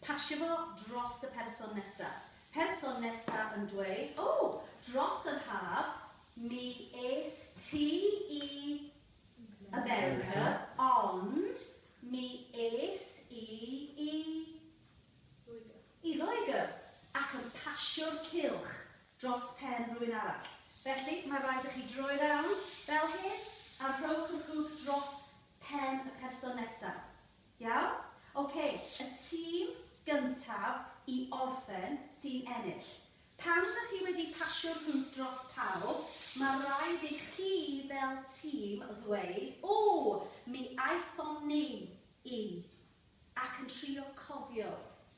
Pasio fo dros y person nesa. Person nesa yn dweud, O! Dros yr haf, mi es ti i America, ond mi es i i... Loegr. ...i Loegr. Ac yn pasio'r cylch dros pen rhywun arall. Felly, mae'n rhaid i chi droi rownd, fel hyn, a rhowch yr hwg dros pen y person nesa. Iawn? Ok, y tîm gyntaf i orffen sy'n ennill. Pan dych chi wedi pasio'r hwnt dros pawb, mae rhaid i chi fel tîm ddweud, Ww, mi aethon ni i. Ac yn trio cofio